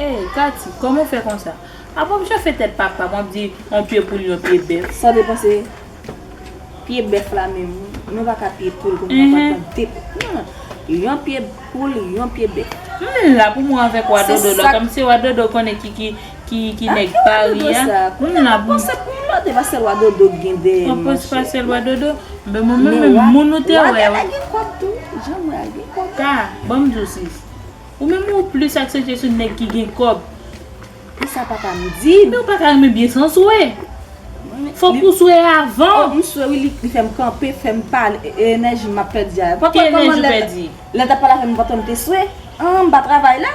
Hey Katy, kòman ou fè konsa? Apa w chafe tèt papa m wap di yon pye poul yon pye bèf. Sa depan se pye bèf la menm wi. Nou pa ka pye poul konn papa pran de non non. Yon pye poul yon pye bèf. M la pou mwen avèk wa dodo la kòmsi wa dodo konnen ki ki. ki nèg pari a m la pou m Mwen pa se lwa dodo k gen dèyè m Mwen pa se lwa dodo Men mwen menm moun ou te wè Wagana gen kob tou Jan m wè a gen kob Ka Ban m di w sis Ou menm ou plis aksantye sou nèg ki gen kob E sa papa m di m Men w pa ka renmen byen san swe Fok ou swe avan M swe wi li fè m kanpe fè m pale E enèji m ap pèdi a Ki enèji w pèdi Lè l t ap pale avè m m pantan m te swe An m pa travay la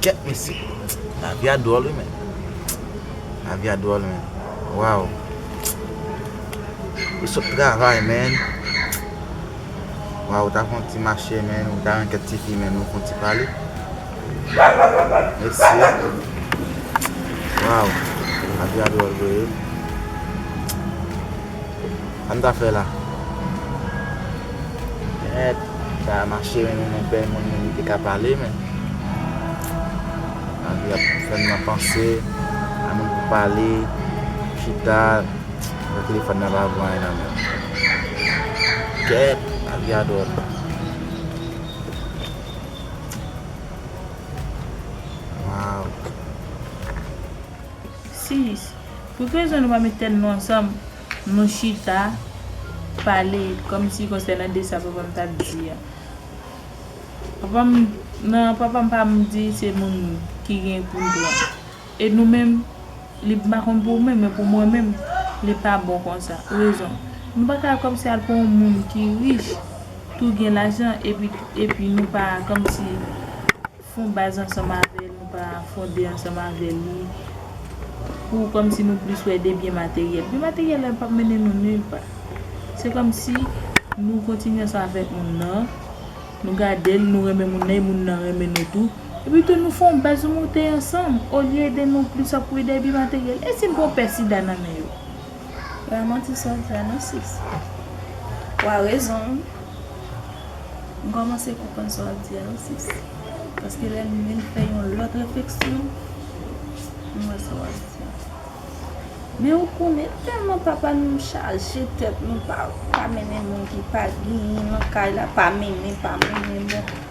Kèt mesye. Lavi a dwòl wi men. Lavi a dwòl men. Waw. Ou sot travay men. Waw ou ta fon ti mache men. Ou ta yon kèt ti fi men. Nou fon ti pale. Mesye. Waw. Lavi a dwòl vre wi. Sa m ta fè la? Mèd! Sa a mache men nou nou bèl moun nou nou te ka pale men. Lavi ap fè n nan panse, a moun pou pale, pou chita, nan telefòn nan pa vo anyen nan men. Kèt! Lavi a dwòl. Waww! Sis! Pou ki rezon nou pa met tèt nou ansanm nou chita pale kòmsi konsènan de sa papa m t ap di a? Papa m nan papa m pa m di se moun ki gen pou n pran. E nou menm li m pa konn pou ou menm men pou mwen menm li pa bon konsa. Rezon, Nou pa ka al kòmsi al pran yon moun ki rich tou gen lajan epi epi nou pa kòmsi Fon baz ansanm avè l, nou pa fonde ansanm avè li, pou kòmsi nou plis wè de byen materyèl. Byen materyèl la pap mennen nou nilpa. Se kòmsi nou kontinye ansanm avèk moun nan, nou gade l, nou renmen moun nan e moun nan renmen nou tou. Epi tou nou fon baz nou moute ansanm, olye de nou plis ap kouye dèyè byen materyèl. E si n pran pè sida nan men yo? Epa manti sa w di a non sis. Ou a rezon wi. M kòmanse konprann sa w ap di a wi sis. Paske lè m vin fè yon lòt refleksyon, m wè sa w ap di a. Men ou konnen tèlman papa nou chaje tèt nou pa mennen moun ki pa genyen nan kay la, pa mennen, pa mennen bon.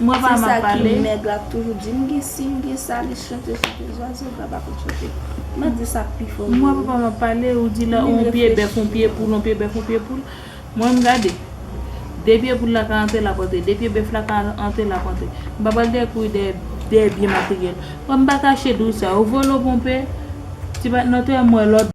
Mwen pa ma pale. Se sa ki nèg la toujou di. M gen si, m gen sa, li chante chante. Zwazo ga pa konn chante. Mwen di sa pi fò. Mwen pa pa ma pale. Ou di la on pye bèf on pye poul, on pye bèf on pye poul. Mwen m gade. De pye poul la ka antre lap antre. De pye bèf la ka antre lap antre. M pa pral dèyè kouri dèyè dèyè byen materyèl. M pa kache di w sa. Ou vole ou ponpe. Ti patnò te m wè lòt.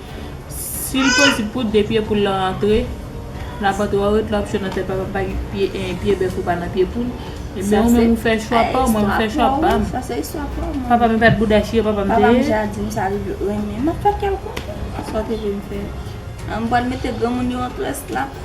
Sil posib pou de pye poul lan antre nan vant ou a ou ret la wap chante nan tèt papa pa gen pye bèf ou pa nan pye poul ebyen ou menm ou fè chwa paw mwen m fè chwa pam papa m epa t bouda chire papa m te ye.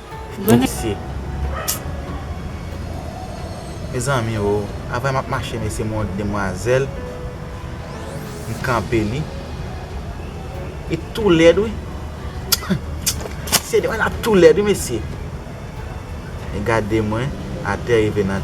Mesye. Mezanmi oo. Avèm ap mache mesye m wè yon demwazèl. M kanpe li. Li tou lèd wi. Mesye demwazèl la tou lèd wi mesye. Li gade mwen. Atè rive nan.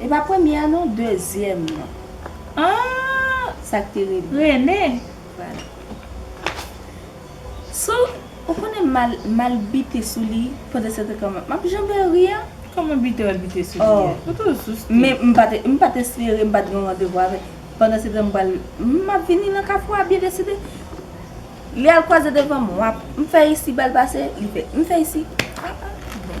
E pa premye a non dezyèm nan. Aah sak te rele. Rene. Vwala. Sou ou konnen mal mal bite sou li pandan sèten kan map map janbe ri an. Kòman bite wal bite sou li a. Ou tou sou sti. Men m pat m pat espere m pat gen yon randevou avè pandan setan m pral map vini nan kafou a byen deside. Li al kwaze devan m wap m fè isi bal pase li fè m fè isi aah bon.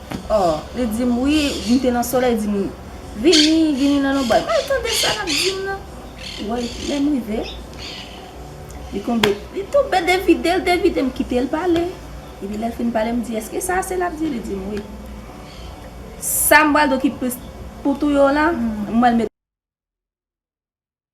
Oh li dim wi m te nan solèy dim vini vini nan lonbray mal tande sa lap dim nan woy lèm rive li konbe li tonbe devidel devide m kite l pale epi lèl fin pale m di eske sa ase lap di li dim wi sam bal do ki plis pou touye w lan m al met.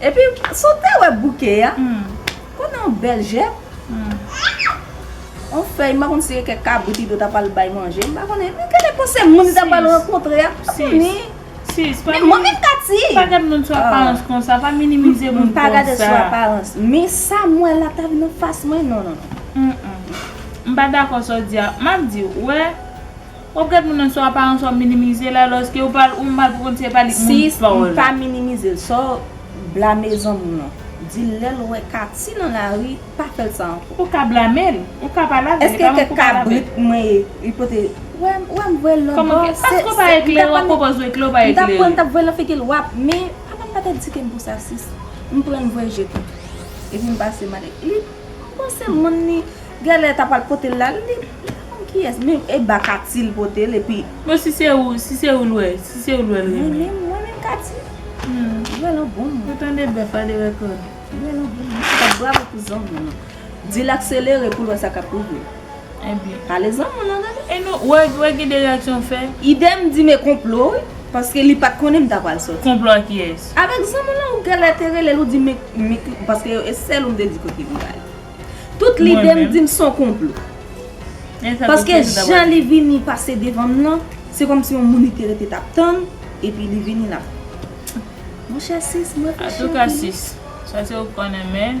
Epi sa w te wè bouke a konnen yon bèl jèp yon fèy m pa konn si e kèk kabrit ido ta pral bay manje m pa konnen men gen lè panse moun li ta pral rankontre a m pa konnen men mwen menm Tatie m pa gad moun sou aparans konsa pa minimize moun konsa m pa gade sou aparans men sa m wè la ta vin anfas mwen non non non m pa dakò sa w di a m ap di w wè Wap gad moun nan sou aparans wap minimize l alòske ou pa ou mal pou konn si e pa li moun Sis m pa minimize l sa w blame zanmi w lan di l lè l wè Katie nan lari pa fè l sa ankò. Ou ka blame l ou ka pale avè l e pa manke w pale avè l. Eske kèk kabrit mwen ye li pote wè m wè m voye l lòt bò se se paske w pa eklere wap pwopòz ou eklere w pa eklere. M tap pran m tap voye l nan figi l wap men papa m pat edike m pou sa sis m pran l m voye jete l epi m pase m ale li M panse moun li gèlè ta pral potel la li Mezanmi kiyès menm e ba Katie l potel epi Bon si se ou si se ou l wè si se ou l wè l renmen. Mwen menm mwen menm Katie Li wè l an bon moun. Ou tande bèf a de rèkòd. Li wè l an bon moun. Antouka bravo pou zanmi an. Di l akselere pou l wè sa k ap rive l. Ebyen. Alezan moun nan tande. E nou wè ki de reaksyon m fè. Idem di me konplo wi. Paske li pat konnen m ta pral soti. Konplo ak kiyès? Avèk zanmi lan ou gèlè te relel ou di me paske e sèl ou m te di kote m pral. Tout lide m dim son konplo. Paske jan li vini pase devan m lan se kòm si yon moun li te rete tap tann epi li vini lap Monchè sis mwen te chante. Atouka sis. Sa se ou konnen men.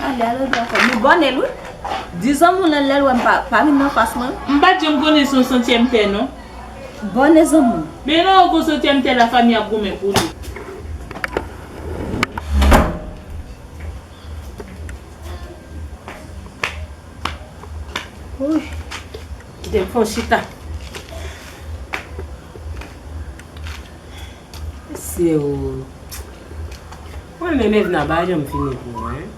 Alya lodra fè nou bon nèl wi Di zanmiw lan lèl wèm pa vin nan fas mwen. M pat janm konnen son setyèm tè non. Bonne zanmim. Men lè ou kon setyèm tè la fami ap goumen pou li. Wouy kitem fon chita. Mesiw. Mwen renmen Mevna pa janm fini pou mwen.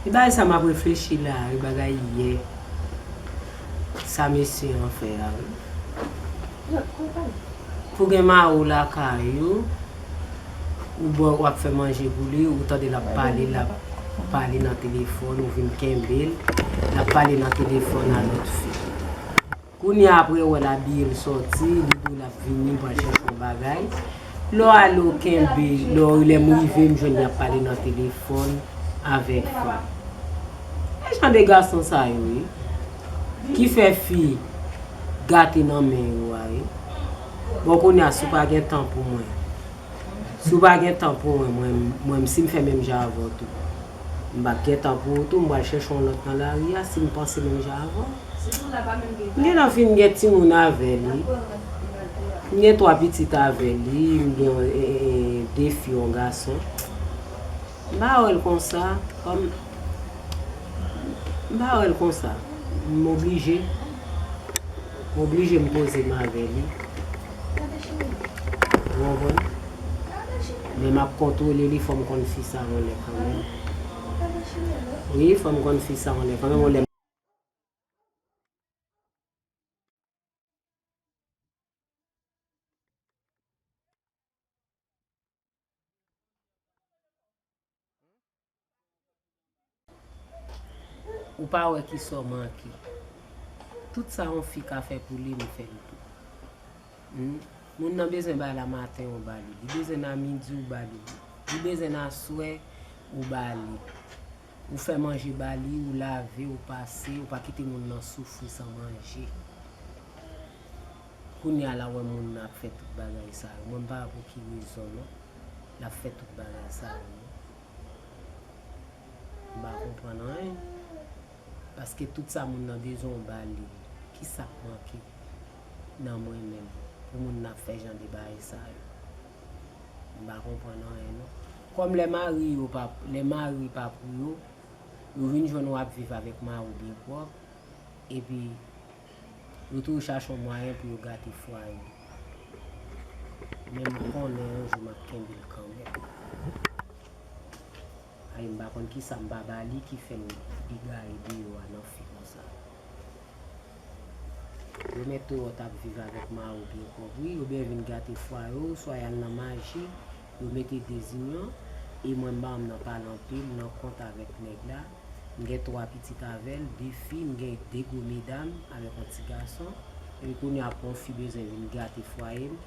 Li bay sa map reflechi la wi bagay yè sa mesye an fè a wi. Pou gen mari w lakay ou ou bo wap fè manje pou li ou tande lap pale lap pale nan telefòn ou vin kenbe l lap pale nan telefòn a lòt fi. Kounya aprè wèl abiyel sòti li diw lap vini pral chèche yon bagay Lò ale ou kenbe lò lèm rive m jwenn li ap pale nan telefòn avèk fi Gen jan de gason sa yo wi ki fè fi gate nan men yo a wi Bon kounya si w pa gen tan pou mwen si w pa gen tan pou mwen mwen m si m fè menm jan avè w tou m pap gen tan pou ou tou m pral chèche yon lòt nan lari a si m panse menm jan avè w. M gen nan fi m gen timoun avè li. M gen 3 pitit avè li. M gen 2 fi yon gason. M pa wè l konsa. Kòm m pa wè l konsa. M oblije. M oblije m poze m avè li. Ou konprann? Men m ap kontwole li. Fò m konn fi sa yon lè kanmenm. Wi, fò m konn fi sa yon lè kanmenm. Ou pa wè ki sa w manke. Tout sa yon fi ka fè pou li, m fè l tou. Humm. Moun nan bezwen bay la maten, ou ba li. Li bezwen nan midi, ou ba li. Li bezwen nan aswè, ou ba li. Ou fè manje ba li, ou lave, ou pase, ou pa kite moun nan soufri san manje. Kounye a la wè moun nan ap fè tout bagay sa yo. Mwen m pa wè pou ki rezon non. L ap fè tout bagay sa yo non. M pa konprann anyen. Paske tout sa moun nan bezwen ou ba li. Ki sa k manke nan mwen menm pou moun nan ap fè jan de bagay sa yo. Mpa konprann anyen non. Kòm lè mari yo pa, lè mari pa pou yo, yo vin jwenn ou ap viv avèk mari ou byen pwòp, epi yo toujou chache yon mwayen pou yo gate fwaye ou. Men m konnen yon jou map kenbe l kanmenm. Ay m pa konn kisa m pa ba li ki fè m egaye deyò a nan fi konsa. Yo mèt Towo t ap viv avèk Mawou byen kòvri, yo byen vin gate fwa yo, swa y al nan maji, yo mete dezinyon, e mwen Mawou m nan pale anpil, nan kont avèk nèg la, m gen twa pitit avè l, de fi, m gen de gwo medam, avèk yon ti gason, epi kounye a pou yon fi bezwen vin gate fwaye m,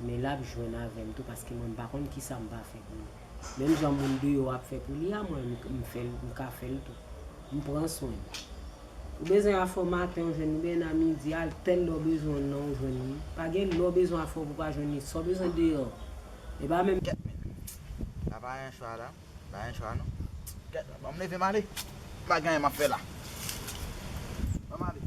men l ap jwenn avè m tou paske mwen m pa konn kisa m va fè pou li. Menm jan moun deyò ap fè pou li a mwen m fè l, m ka fè l tou. M pran swen l. Ou bezwen afè w maten ou jwenn li, ou bezwen nan midi a, tèl lè w bezwen l nan ou jwenn li. Pa gen lè w bezwen afè w pou w pa jwenn li. Sa w bezwen deyò, e pa menm. Gèt menm. Sa pa yon chwa la. Pa yon chwa non. Gèt menm. Ban m leve m ale. M pa gen anyen m ap fè la. Ban m ale.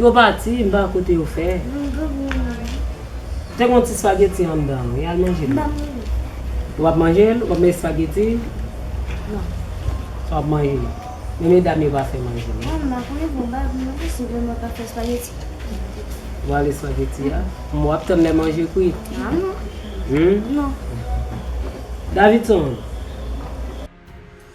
Yo pati, m pa wè kote yo fè. Te gen yon ti spaghetti anndan, wi, al manje li. Ou pap manje l? Ou pap manje spaghetti? Ou pap manje li? Men medam yo pa fè manje non. Ou bale spaghetti a? Bon, wap tann lè manje kwit? Davidson!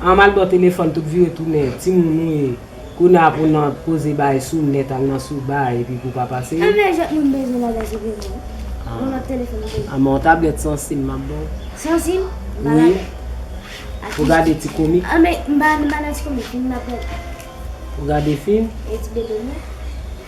An mal baw telefòn tout vire tounen ti moun ou ye kounye a pou nan poze bay sou nèt al nan sou bay epi pou pa pase. An men jwèt moun bezwen bagay se vre non yon lòt telefòn ou bezwen. An men yon tablèt san sim map baw. San sim? Ba la men. Pou gade ti komik. An men m pa renmen bagay ti komik fim map gade. Pou gade fim? E ti bebe m nan?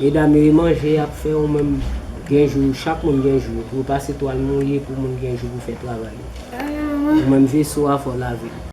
Medam yo e manje yap fè ou menm gen jou chak moun gen jou yo pou yo pase twal mouye pou moun gen jou pou fè travay yo ou menm veso a fò lavel.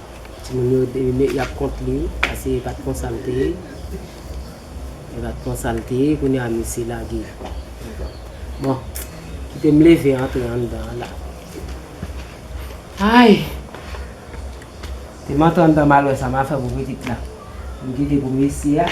Timoun yo e yap kont li pase e pat konsal te ye e pat konsal te ye kounye a mesye lage bon kite m leve antre anndan an la ayy te m antre anndan mal wè sa ma fè pou pitit la m kite pou mesye a.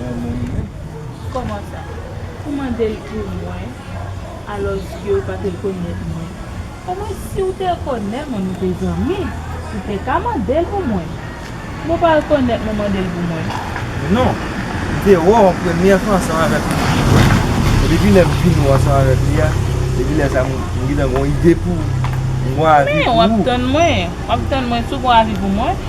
Bon moun menm. Koman sa? Ou mandel pou mwen alòske ou pa te konèt mwen. Omwen si ou te konè mwen nou te zanmi, ou te ka mandel pou mwen. Mwen pa rekonèt mwen mandel pou mwen. Non. M te wè w an premye fwa ansanm avèk yon ti jwèt. E depi lè m vin wè w ansanm avèk li a, depi lè sa m gentan gon ide pou ou. M gon avi pou ou. Men, w ap tann mwen. W ap tann mwen tou gon avi pou mwen.